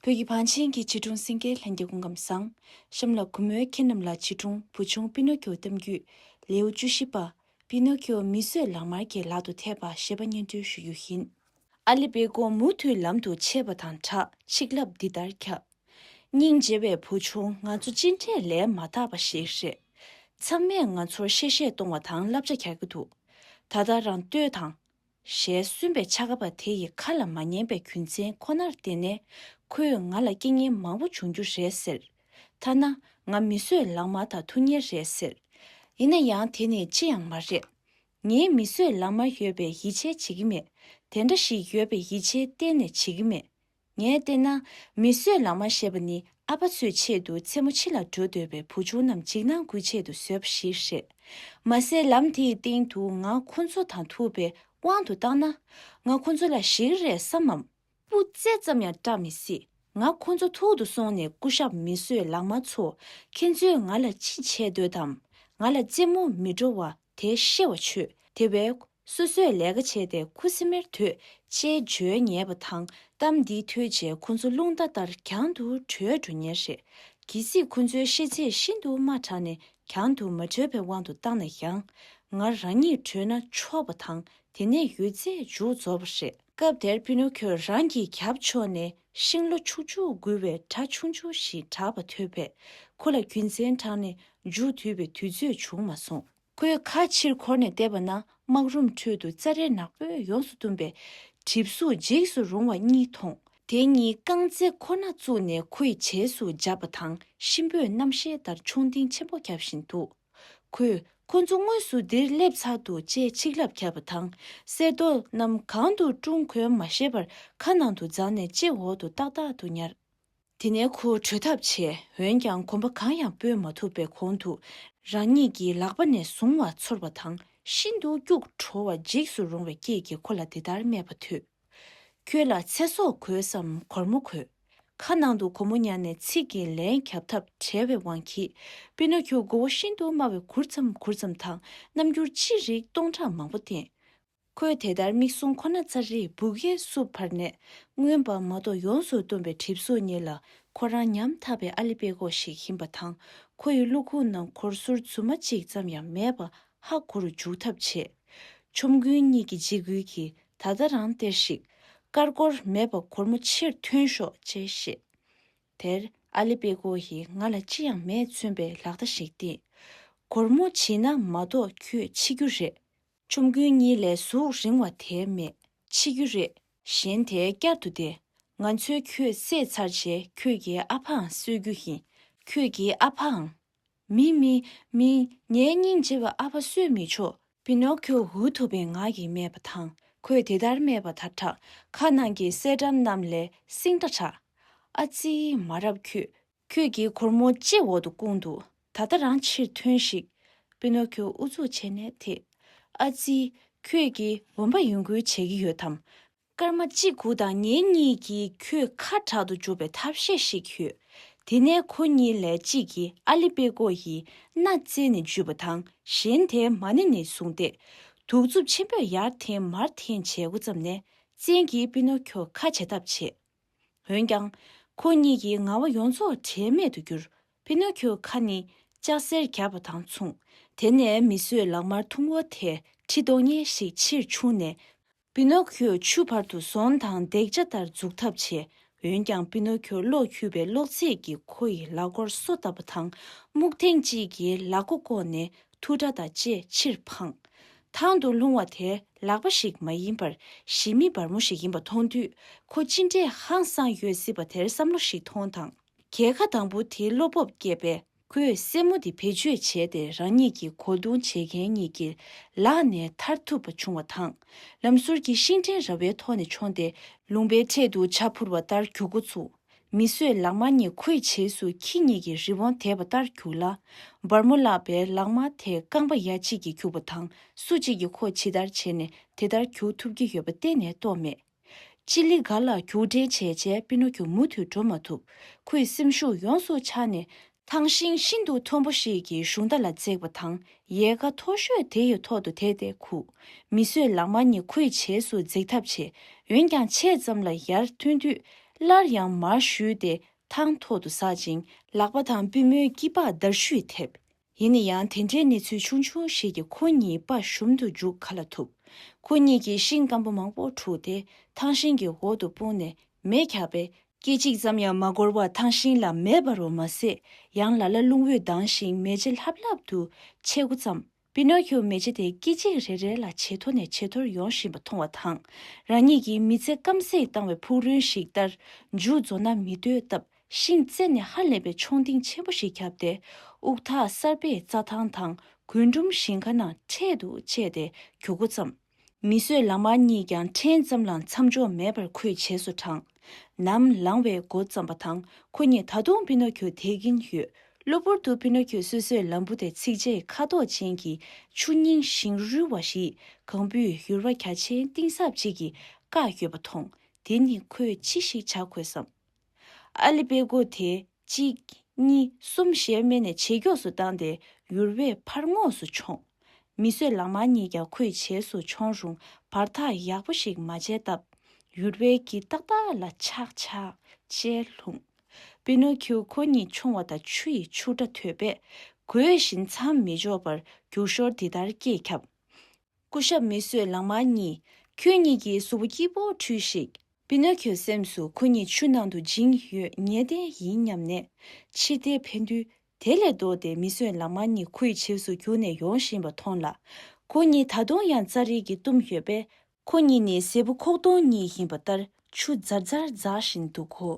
བོད་ཀྱི་བང་ཆེན་གྱི་བྱིས་སྒྲུང་སེང་གེའི་ལྷན་སྐྱེས་སྐུ་ཁམས་བཟང། གཤམ་ལ་གུས་མོའི་ཁྱེད་རྣམས་ལ་བྱིས་སྒྲུང་བུ་ཆུང་པི་ནོ་ཁྱོའི་གཏམ་རྒྱུད། ལེའུ་བཅུ་བཞི་པ། པི་ནོ་ཁྱོ་མིས་བཟོས་ལག་དམར་གྱི་ལག་ཏུ་ཐེབས་པ་ཞེས་པ་སྙན་སྒྲོན་ཞུ་རྒྱུ་ཡིན། ཨ་ལི་བེ་ཀོ་མུ་མཐུད་ལམ་དུ་ཆས་པ་དང་བྲག་ཆིག་ལབ་འདི་ལྟར་ཁྱབ། སྙིང་རྗེ་བའི་བུ་ཆུང་ང་ཚོ་ཅི་འདྲའི་ལས་མ་དག་པ་ཞིག་རེད། ཚང་མས་ང་ཚོར་གཤེ་གཤེ་གཏོང་བ་དང་བསླབ་བྱ་རྒྱག་གི་འདུག་ད་ལྟ་རང་ལྟོས་དང། ཞལ་གསུམ་པའི་ཕྱག་ག་པ་དེ་ཡི་ཁ་ལ་མ་ཉན་པའི་རྒྱུ་མཚན་ཁོ་ནར་བརྟེན་ནས་ཁོས་ང་ལ་སྐྱིད་ཉལ་མང་པོ་འབྱུང་རྒྱུ་རེད་ཟེར། ཐ་ན་ང་མི་གསོད་ལག་དམར་དང་ཐུག་ཉེ་རེད་ཟེར། ཡིན་ན་ཡང་དེ་ནི་ཅི་ཡང་མ་རེད། ངས་མི་གསོད་ལག་དམར་ཡོད་པའི་ཡིད་ཆེས་བྱེད་ཀྱི་མེད། དེ་འདྲ་ཞིག་ཡོད་པའི་ཡིད་ཆེས་གཏན་ནས་བྱེད་ཀྱི་མེད། ངས་བལྟས་ན། མི་གསོད་ལག་དམར་ཞེས་པ་ནི་ཨ་ཕ་ཚོའི་ཆེད་དུ་མཚན་མོ་ཕྱི་ལ་འགྲོ་འདོད་པའི་བུ་ཆུང་རྣམས་འཇིགས་སྣང་སྐུལ་ཆེད་དུ་བཟོས་པ་ཞིག་རེད། མ་ཟད་ལམ་དེའི་སྟེང་དུ་ང་ཁོ་ཚོ་དང་ཐུག་པའི་དབང་དུ་བཏང་ན། ང་ཁོ་ཚོ་ལ་ཞིག་རེ་བསམ་མམ། སྤུ་རྩེ་ཙམ་ཡང་སྐྲག་མི་སྲིད། ང་ཁོ་ཚོ་ཐུག་ཏུ་སོང་ནས་སྐུ་ཞབས་མི་གསོད་ལག་དམར་ཚོ། ཁྱེད་ཚོས་ང་ལ་ཅི་བྱེད་འདོད་དམ། ང་ལ་རྩེད་མོ་མི་འགྲོ་བ་དེ་ཤེས་བ་བྱོས། དེ་བས། སོ་སོས་ལས་ཀ་བྱས་ཏེ་ཁུ་སིམ་མེར་དུད་ཅེས་བརྗོད་ཉེས་པ་དང་གཏམ་འདི་ཐོས་རྗེས་ཁོ་ཚོ་རླུང་རྟ་ལྟར་གྱང་དུ་བྲོས་འགྲོ་ཉེར་རེད། གལ་སྲིད་ཁོ་ཚོའི་ཤེས་ཚད་ཤིན་ཏུ་དམའ་དྲགས་ནས་གྱང་དུ་མ་བྲོས་པའི་དབང་དུ་བཏང་ན་ཡང། ང་རང་ཉིད་བྲོས་ན་ཆོག་པ་དང་དེ་ནས་ཡོད་ཚད་མཇུག་རྫོགས་པ་རེད། སྐབས་དེར་པི་ནོ་ཁྱོས་རང་གི་རྒྱབ་ཕྱོགས་ནས་ཤིང་ལོ་ཕྱུག་ཕྱུག་འགུལ་བའི་སྒྲ་ཆུང་ཆུང་ཞིག་གྲགས་པ་ཐོས་པས་ཁོ་ལ་རྒྱུ་མཚན་དྲངས་ནས་མཇུག་བསྡུས་པའི་དུས་ཚོད་བྱུང་མ་སོང། ཁོའི་ཁ་ཕྱིར་འཁོར་ནས་བལྟས་པ་ན་སྨག་རུམ་ཁྲོད་དུ་རྩྭ་རའི་ནག་པོས་ཡོངས་སུ་བཏུམས་པའི་གྲིབ་གཟུགས་འཇིགས་སུ་རུང་བ་གཉིས་མཐོང། དེ་གཉིས་རྐང་རྩེད་ཁོ་ན་བཙུགས་ནས་ཁོའི་བྱེས་སུ་འཇབ་པ་དང་གཤིན་པོས་རྣམ་ཤེས་ལྟར་མཆོང་ལྡིང་ཆེན་པོ་བརྒྱབ་བཞིན་འདུག་ཁོས་ཁོ་ཚོ་དངོས་སུ་འདིར་སླེབས་ཚར་འདུག་ཅེས་ཆིག་ལབ་བརྒྱབ་པ་དང་གསེར་རྡོ་རྣམས་གང་དུ་བཀྲུ་འཁོལ་མ་ཤེས་པར་ཁ་ནང་དུ་བརྫངས་ནས་ལྕེ་འོག་ཏུ་ཏག་ཏག་ཏུ་ཉར། དེ་ནས་ཁོ་བྲོས་ཐབས་བྱས་འོན་ཀྱང་གོམ་པ་གང་ཡང་སྤོས་མ་ཐུབ་པའི་གོང་དུ་རང་ཉིད་ཀྱི་ལག་པ་ནས་བཟུང་བ་ཚོར་བ་དང་ཤིན་ཏུ་སྐྱུག་བྲོ་བ་འཇིགས་སུ་རུང་བའི་སྐད་ཀྱིས་ཁོ་ལ་འདི་ལྟར་སྨྲས་པ་ཐོས། ཁྱོད་ལ་ཚེ་སྲོག་གོས་སམ་གོར་མོ་གོས། ཁ་ནང་དུ་གོར་མོ་ཉར་ནས་ཚིག་གིས་ལན་ཁྱབ་ཐབས་བྲལ་བའི་དབང་གིས་པི་ནོ་ཁྱོ་མགོ་བོ་ཤིན་ཏུ་དམའ་བའི་གུར་ཙམ་གུར་ཙམ་དང་རྣམ་འགྱུར་ཅི་རིགས་སྟོང་ཕྲག་མང་པོ་བསྟན། ཁོས་དེ་ལྟར་མིག་ཟུང་ཁོ་ན་ཚ་རེས་སྦུག་གཡས་བསུབས་བར་ནས་མངོན་པ་མ་གཏོགས་ཡོངས་སུ་བཏུམས་པའི་གྲིབ་གཟུགས་གཉིས་ལ་ཁོ་རང་ཉམ་ཐག་པའི་ཨ་ལི་པད་གོག་ཞིག་ཡིན་པ་དང་ཁོ་ཡི་གློ་ཁུག་ནང་གོར་ཟུར་རྫུན་མ་གཅིག་ཙམ་ཡང་མེད་པ་ཧ་གོ་རུ་འཇུག་ཐབས་བྱས། ཆོམ་རྐུན་གཉིས་ཀྱིས་འཇིགས་སྐུལ་གྱིས་ད་ལྟ་རང་སྟེར་ཞིག། དཀར་གོར་མེད་པ་གོར་མོ་ཕྱིར་ཐོན་ཤོག་ཅེས་བཤད། དེར་ཨ་ལི་པད་གོག་གིས་ང་ལ་ཅི་ཡང་མེད་མཚོན་པའི་ལག་བརྡ་ཞིག་བསྟན། གོར་མོ་བྱིན་ན་མ་གཏོགས་ཁྱོད་འཆི་རྒྱུ་རེད། ཆོམ་རྐུན་གཉིས་ལས་གཟུགས་རིང་བ་དེ་མེད་འཆི་རྒྱུ་རེད། གཞན་དེ་བསྐྱར་དུ་བདེ། ང་ཚོས་ཁྱོད་བསད་ཚར་རྗེས་ཁྱོད་ཀྱི་ཨ་ཕའང་གསོད་རྒྱུ་ཡིན། ཁྱོད་ཀྱི་ཨ་ཕའང། མི། མི། མི། ངའི་སྙིང་རྗེ་བའི་ཨ་ཕ་གསོད་མི་ཆོག། པི་ནོ་ཁྱོ་འུ་ཐུག་པའི་ངག་གིས་སྨྲས་པ་དང་ཁོས་དེ་ལྟར་སྨྲས་པ་དག་བྲག་ཁ་ནང་གི་གསེར་སྒྲམ་རྣམས་ལས་བསྲིངས་འདྲ་གྲགས། ཨ་ཙི། མ་རབས་ཁྱོད་ཁྱོད་ཀྱིས་གུར་མོ་ལྕེ་འོག་ཏུ་བསྐུངས་འདུག་ད་ལྟ་རང་ཕྱིར་ཐོན་ཞིག། པི་ནོ་ཁྱོ་ཨུ་ཚུགས་བྱས་ནས་དེད། ཨ་ཙི། ཁྱོད་ཀྱིས་བུམ་པ་ཡུན་བསྐུལ་བྱེད་ཀྱི་ཡོད་དམ། སྐར་མ་གཅིག་གུ་དང་ངེད་གཉིས་ཀྱིས་ཁྱོད་ཁ་དྲག་ཏུ་འཇུག་པའི་ཐབས་ཤེས་ཤིག་ཞུས། དེ་ནས་ཁོ་གཉིས་ལས་གཅིག་གིས་ཨ་ལི་པེ་ཀོ་ཡི་སྣ་རྩེ་ནས་འཇུས་པ་དང་གཞན་དེས་མ་ནེ་ནས་བཟུང་སྟེ། དུག་རྩུབ་ཆེན་པོས་ཡར་འཐེན་མར་འཐེན་བྱས་འགོ་བརྩམས་ནས་བཙན་གྱིས་པི་ནོ་ཁྱོ་ཁ་འབྱེད་ཐབས་བྱེད། འོན་ཀྱང། ཁོ་གཉིས་ཀྱི་ང་བ་ཡོངས་རྫོགས་བྲལ་མེད་དུ་གྱུར། ཕི་ནོ་ཁྱོའི་ཁ་ནི་ལྕགས་སེར་གྱར་བ་དང་མཚུངས། དེ་ནས་མི་གསོད་ལག་དམར་འཐུང་བོ་དེས་ཁྲི་སྟོང་སྙེ་ཞིག་ཕྱིར་ཕྱུང་ནས། ཕི་ནོ་ཁྱོས་ཆུ་བར་དུ་ཟོང་དང་རྡེག་བྱ་ལྟར་འཛུགས་ཐབས་བྱས། འོན་ཀྱང་ཕི་ནོ་ཁྱོ་གློག་འཁྱུད་པའི་གློག་རྫས་ཀྱིས་ཁོ་ཡི་ལག་མགོར་སོ་བཏབ་པ་དང། སྨུག་ཐེངས་གཅིག་གིས་ལག་མགོ་བསྐོར་ནས་ཐུག་སྒྲ་དང་བཅས་ཕྱིར་འཕངས། ཐང་དུ་ལྷུང་བ་དེ་ལག་པ་ཞིག་མ་ཡིན་པར་གཞི་མེད་སྦར་མོ་ཞིག་ཡིན་པ་མཐོང་དུས་ཁོ་ཅི་འདྲའི་ཧང་སངས་ཡོད་སྲིད་པ་དེར་བསམ་བློ་ཞིག་ཐོངས་དང། གྱེས་ཁ་དང་པོ་དེའི་བློ་སྤོབས་བསྐྱེད་པས་ཁོས་སེན་མོ་དེ་བེད་སྤྱོད་བྱས་ཏེ་རང་ཉིད་ཀྱི་གོ་བརྡུང་བྱེད་མཁན་གཉིས་ཀྱི་ལག་ནས་ཐར་ཐུབ་པ་བྱུང་བ་དང། ལམ་ཟུར་གྱི་ཤིང་ཕྲན་ར་བའི་ཐོག་ནས་མཆོངས་ཏེ་ལུང་པའི་འཕྲེད་དུ་བྱ་འཕུར་བ་ལྟར་གྱུག་འགོ་ཚུགས། མི་གསོད་ལག་དམར་ཉིད་ཁོའི་བྱེས་སུ་ཁྱི་གཉིས་ཀྱི་རི་བོང་དེད་པ་ལྟར་རྒྱུགས་ལ། སྦར་མོ་བརླགས་པའི་ལག་དམར་དེས་རྐང་པ་ཡ་གཅིག་གིས་རྒྱུགས་པ་དང་སུ་གཅིག་གིས་ཁོ་ཇི་ལྟར་བྱས་ནས་དེ་ལྟར་རྒྱུགས་ཐུབ་ཀྱི་ཡོད་པ་གཏན་ནས་རྟོགས་མེད། ཅི་ལི་ག་ལ་རྒྱུགས་འབྲེལ་བྱས་བྱས་པི་ནོ་ཁྱོ་མུ་མཐུད་འགྲོ་མ་ཐུབ། ཁོའི་སེམས་ཤུགས་ཡོངས་སུ་ཆག་ནས་ཐང་ཤིང་ཤིན་ཏུ་མཐོན་པོ་ཞིག་གི་གཞུང་རྟ་ལ་བརྩེགས་པ་དང་ཡལ་ག་མཐོ་ཤོས་དེ་ཡི་ཐོག་ཏུ་དེད་དེ་ཁུག། མི་གསོད་ལག་དམར་གཉིས་ཁུ་ཡི་བྱེས་སུ་འཛེག་ཐབས་བྱེད། འོན་ཀྱང་ཕྱེད་ཙམ་ལ་ཡར་ཐོན་དུས། སླར་ཡང་མར་བཞུད་དེ་ཐང་ཐོག་ཏུ་ཟགས་ཅིང་ལག་པ་དང་པུས་མོའི་དཀྱིལ་པགས་མདར་བཤུས་ཐེབས། ཡིན་ན་ཡང་དེ་འདྲའི་གནས་ཚུལ་ཆུང་ཆུང་ཞིག་གིས་ཁོ་གཉིས་དཔའ་ཞུམ་དུ་འཇུག་ག་ལ་ཐུབ། ཁོ་གཉིས་ཀྱིས་ཤིང་སྐམ་པོ་མང་པོ་འཁྲུགས་ཏེ་ཐང་ཤིང་གི་འོག་ཏུ་སྤུངས་ནས་མེ་ཁྱག་པས་སྐད་ཅིག་ཙམ་ཡང་མ་འགོར་བར་ཐང་ཤིང་ལ་མེ་འབར་བ་མ་ཟད་ཡང་ལ་ལ་རླུང་འོད་ལྡང་ཞིང་མེ་ལྕེ་ལྷབ་ལྷབ་ཏུ་མཆེད་འགོ་བརྩམས། པི་ནོ་ཁྱོ་མེ་ལྕེ་དེ་སྐད་ཅིག་རེ་རེ་ལ་ཇེ་མཐོ་ནས་ཇེ་མཐོར་ཡོང་བཞིན་པ་མཐོང་བ་དང་རང་ཉིད་ཀྱི་མི་ཚེ་སྐམ་སེང་བཏང་བའི་ཕུག་རོན་ཞིག་ལྟར་མཇུག་རྫོགས་ན་མི་འདོད་སྟབས་ཤིང་རྩེ་ནས་ཧ་ལས་པའི་མཆོང་ལྡིང་ཆེན་པོ་ཞིག་ཁྱབ་སྟེ་དབུགས་ཐག་གསར་པས་རྩྭ་ཐང་དང་རྒུན་འབྲུམ་ཞིང་ཁ་ནང་འཕྲེད་དུ་བཅད་དེ་གྱུར་འགོ་བརྩམས། མི་གསོད་ལག་དམར་གཉིས་ཀྱང་ཕྲན་ཙམ་ལའང་མཚམས་འཇོག་མེད་པར་ཁོས་བྱས་སུ་དྲངས། ནམ་ལངས་བའི་འགོ་བརྩམས་པ་དང་ཁོ་གཉིས་ད་དུང་པི་ནོ་ཁྱོ་དེད་ཀྱིན་ཡོད། གློ་བུར་དུ་པི་ནོ་ཁྱོས་སོ་སོའི་ལམ་བུ་དེ་ཚིགས་བཅད་ཁ་དོག་ཅན་གྱི་ཆུ་རྙིང་ཞིང་རུལ་བ་ཞིག་གང་བུས་ཡུར་བ་གྱ་ཆེན་གཏིང་ཟབ་ཅིག་གིས་བཀག་ཡོད་པ་མཐོང། དེ་ནི་ཁོས་ཅི་ཞིག་བྱ་དགོས་སམ། ཨ་ལི་པེ་སྒོ་དེ་གཅིག་གཉིས་གསུམ་ཞེས་སྨྲས་ནས་ཇེ་མགྱོགས་སུ་བཏང་སྟེ་ཡུར་བས་ཕར་ངོགས་སུ་མཆོངས། མི་གསོད་ལག་དམར་གཉིས་ཀྱང་ཁོས་བྱེས་སུ་མཆོངས་རུང་བར་ཐག་ཡག་པོ་ཞིག་མ་བྱས་སྟབས། ཡུར་བས་གྱིས་ཏག་ཏག་ལ་ཆག་ཆག་ཅེས་ལྷུང། པི་ནོ་ཁིའོ་ཁོ་གཉིས་མཆོངས་བ་དང་ཆུ་ཡི་ཆུ་སྒྲ་ཐོས་པས། གོས་བཞིན་མཚམས་མི་འཇོག་པར་རྒྱུག་ཞོར་འདི་ལྟར་སྐད་ཁྱབ། སྐུ་ཞབས་མི་བསོད་ལགས་མར་གཉིས། ཁྱོད་གཉིས་ཀྱི་གཟུགས་པོ་སྐྱིད་པོ་འཁྲུས་ཤིག། པི་ནོ་ཁྱོའི་སེམས་སུ་ཁོ་གཉིས་ཆུ་ནང་དུ་འཇིང་ཡོད་ངེས་གཏན་ཡིན་སྙམ་ནས། ཕྱིར་བལྟས་ཕན་དུས་དེ་ལས་ལྡོག་སྟེ་མི་བསོད་ལགས་མར་གཉིས་ཁོའི་བྱེས་སུ་གྱུར་ནས་ཡོང་བཞིན་པ་མཐོང་ལ། ཁོ་གཉིས་ད་དུང་ཡང་རྩྭ་རིལ་གྱིས་བཏུམས་ཡོད་པས། ཁོ་གཉིས་ནི་སྲས་བུ་ཁོག་སྟོང་གཉིས་ཡིན་པ་ལྟར་ཆུ་འཛར་འཛར་འཛག་བཞིན་འདུག་གོ།